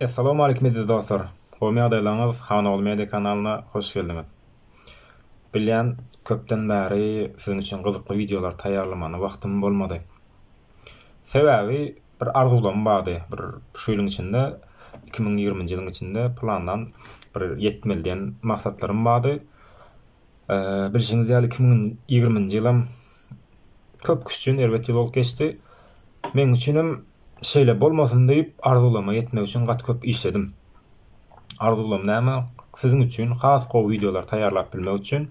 Assalamu aleykum eziz dostlar. Gowy ýagdaýlaryňyz Hanogly Media kanalyna hoş geldiňiz. Bilýän, köpden bäri siziň üçin gyzykly wideolar taýýarlamana wagtym bolmady. Sebäbi bir arzuwlarym bardy. Bir şu ýylyň içinde 2020-nji ýylyň içinde plandan bir ýetmeli diýen maksatlarym bardy. Bilşiňiz ýaly, iki müň ýigriminji ýylam köp kişi üçin erbet ýyl bolup geçdi. Meň üçinem şeýle bolmasyn diýip, arzuwlaryma ýetmek üçin gaty köp işledim. Arzuwlarym näme? Siziň üçin has gowy wideolar taýýarlap bilmek üçin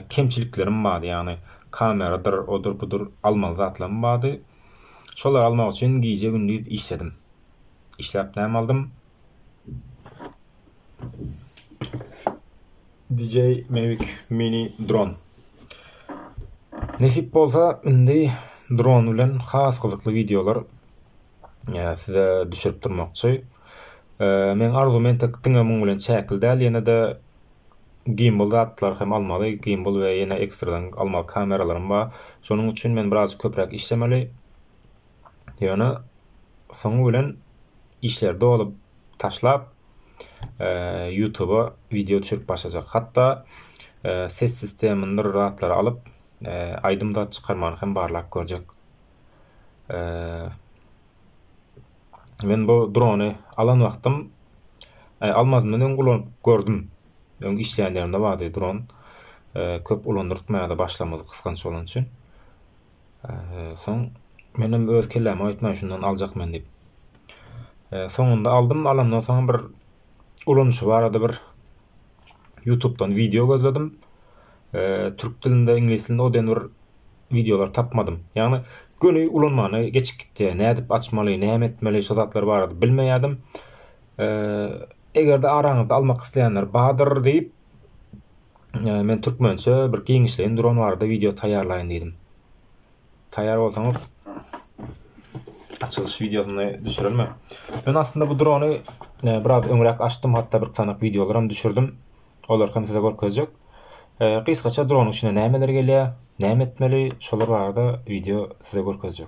kemçiliklerim bardy, ýagny kameradyr, odur, budur almaly zatlarym bardy. Şolary almak üçin gije-gündiz işledim. Işläp näme aldym? DJ Mavic Mini dron. Nesip bolsa indi dron bilen has gyzykly wideolar size düşürip durmakçy. Men arzuw men tek diňe muň bilen çäkli däl, ýene-de gimbal zatlar hem almaly, gimbal we ýene ekstradan almaly kameralarym bar. Şonuň üçin men biraz köpräk işlemeli. Ýöne soňy bilen işleri dolup taşlap Ýutuba wideo düşürip başlajak. Hatda ses sistemyndyr zatlary alyp aýdym zat çykarmagyny hem barlap görjek. Men bu drony alan wagtym almazymdan öň ulanyp gördüm. Öň işleýän ýerimde bardy dron. Köp ulandyrtmaýardy başlamyzy gysganç bolany üçin. Soň menem öz kellämi aýtmaýyn şundan aljak men diýip. Soňunda aldym, alandan soň bir ulanyşy barada bir YouTube'dan wideo gözledim. Türk dilinde, iňlis dilinde o diýen bir wideolar tapmadym. Ýagny göni ulanmana geçip gitdi. Nädip açmaly, näme etmeli şu zatlar barada bilmeýärdim. Eger-de araňyzda almak isleýänler bardyr diýip, Men türkmençe bir giňişleýin dron barada wideo taýýarlaýyn diýdim. Taýýar bolsaňyz açylyş wideosyny düşürermen. Men aslynda bu drony biraz öňräk açdym, hatda bir sanak wideolar hem düşürdim. Olar hem size görkezjek. Gysgaça dronyň içine nämeler gelýär, näme etmeli, şolar barada wideo size görkezjek.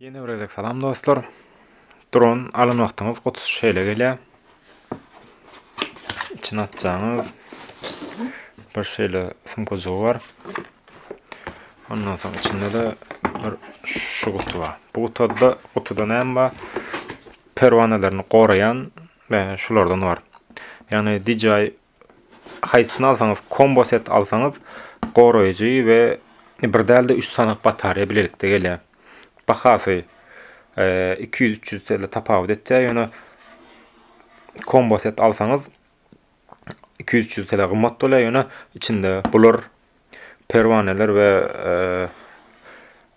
Ýene bir gezek salam dostlar. Dron alan wagtyňyz gutusy şeýle gelýär. Içini açjaňyz bir şeýle sumkajygy bar. Ondan soň içinde de bir şu gutu bar. Bu gutuda gutuda näme bar? Perwanalaryny goraýan şulardan bar. Ýagny DJI haýsysyny alsaňyz kombo set alsaňyz goraýjy we bir dälde 3 sanak batareýa bilelikde gelýär. Bahasy 200-300 e, TL tapawut etýär, ýöne kombo set alsaňyz 200-300 TL gymmat bolýar, ýöne içinde bular perwaneler we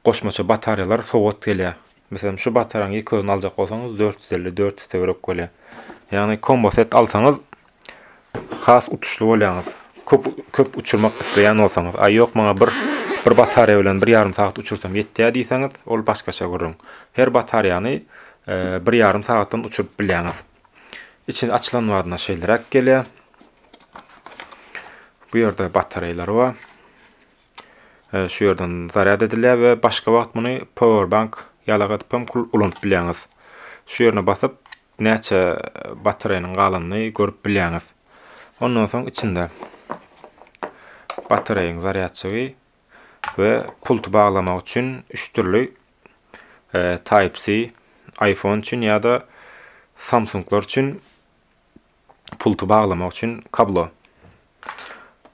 goşmaça batarýalar sowgat gelýär. Meselem, şu bataryň ýeke özüni aljak bolsaňyz 450-400 töwerek bolýar. Ýagny kombo set alsaňyz has utuşly bolýaňyz. Köp köp uçurmak isleýän bolsaňyz, a ýok maňa bir bir batarýa bilen bir ýarym sagat uçursam ýetýär diýseňiz, ol başgaça gürrüň. Her batarýany bir ýarym sagatdan uçuryp bilýäňiz. Içi açylan badyna şeýleräk gelýär. Bu ýerde batareýlary bar. E, şu ýerden zarýad edilýär we başga wagt muny power bank ýalak edip hem ulanyp bilýäňiz. Şu ýerine basyp näçe batareýanyň galanyny görüp bilýäňiz. Ondan soň içinde batareýaň zarýadçygy we pulty baglamak üçin 3 türli e, Type-C iPhone üçin ýa-da Samsunglar üçin pulty baglamak üçin kablo.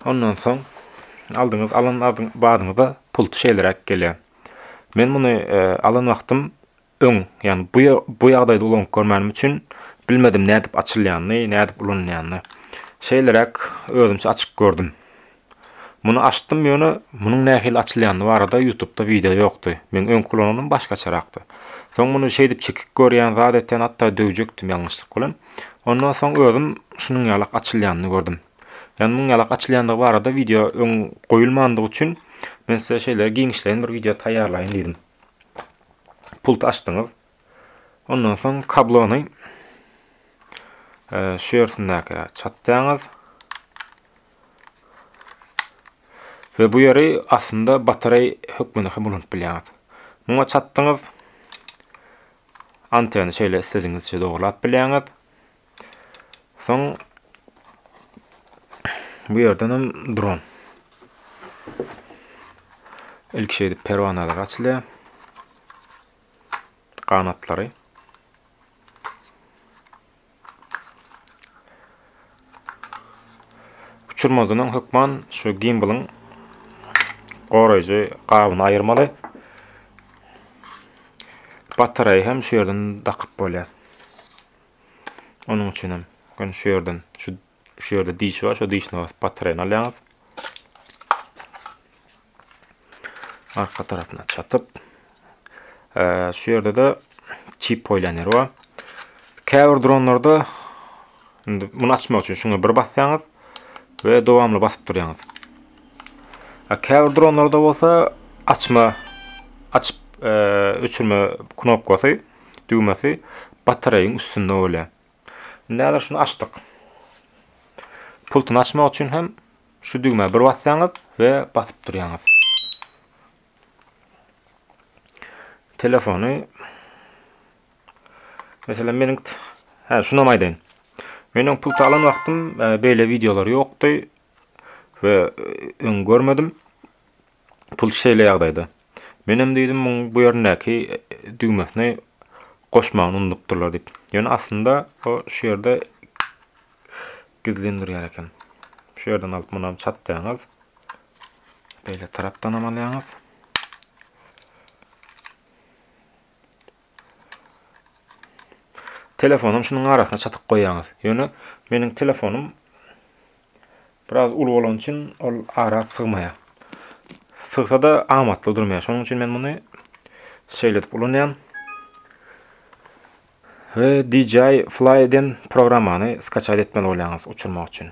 Ondan soň aldyňyz, alan badyňyzda pulty şeýleräk gelýär. Men muny e, alan wagtym öň, ýagny bu bu ýagdaýda ulanyp görmänim üçin bilmedim nädip açylýanyny, nädip ulanylýanyny. Şeýleräk özümçe açyp gördüm. Muny açdym ýöne munuň nähili açylýandy barada ýutubda wideo ýokdy. Meň öňki ulananym başgaçarakdy. Soň muny şeýdip çekik görýän zat etýän hatda döwjekdim ýalňyşlyk bilen. Ondan soň özüm şunuň ýalak açylýanyny gördüm. Ýani munuň ýalak açylýandygy barada wideo öň goýulmandygy üçin men size şeýle giňişleýin bir wideo taýýarlaýyn diýdim. Pult açdyňyz. Ondan soň kablony şu ýersindäki çatýaňyz. We bu ýeri aslynda batareý hökmünde hem ulanyp bilýäňiz. Muňa çatdyňyz. Anteny şeýle istedigiňizçe dogurlap bilýäňiz. Soň bu ýerden hem dron. Ilk şey edip perwanalar açylýar. Ganatlary. Uçurmazynyň hökman şu gimbalyň goraýjy gabyny aýyrmaly. Batareýa hem şu ýerden dakyp bolýar. Onuň üçin hem şu ýerden şu Şu ýerde diş bar, şu dişine basyp batarýany alýaňyz. Arka tarapyna çatyp. Şu ýerde-de çip goýlan ýeri bar. Käbir dronlarda indi muny açmak üçin şuňa bir basýaňyz we dowamly basyp durýaňyz. Käbir dronlarda bolsa açma açyp öçürme knopkasy, düwmesi batareýaň üstünde bolýar. Indi häzir şuny açdyk. Pultuny açmak üçin hem şu düwmä bir basýaňyz we basyp durýaňyz. Telefony Mesela meniň hä şuna maýdaýyn. Meniň pul alan wagtym e, beýle wideolar ýokdy we e, öň görmedim. Pul şeýle ýagdaýda. Menem diýdim muň bu ýerindäki düwmesini goşmagyny unudupdyrlar diýip. Ýöne aslynda o şu ýerde gizlendirýär eken. Şu ýerden alyp munam çatlaýaňyz. Beýle tarapdanam alýaňyz. Telefonam şunuň arasyna çatyk goýýaňyz. Ýöne meniň telefonym biraz uly bolany üçin ol ara sygmaýar. Sygsa-da amatly durmaýar. Şonuň üçin men muny şeýle edip ulanýan. We DJI Fly-den programmany skaçat etmeli bolýaňyz uçurmak üçin.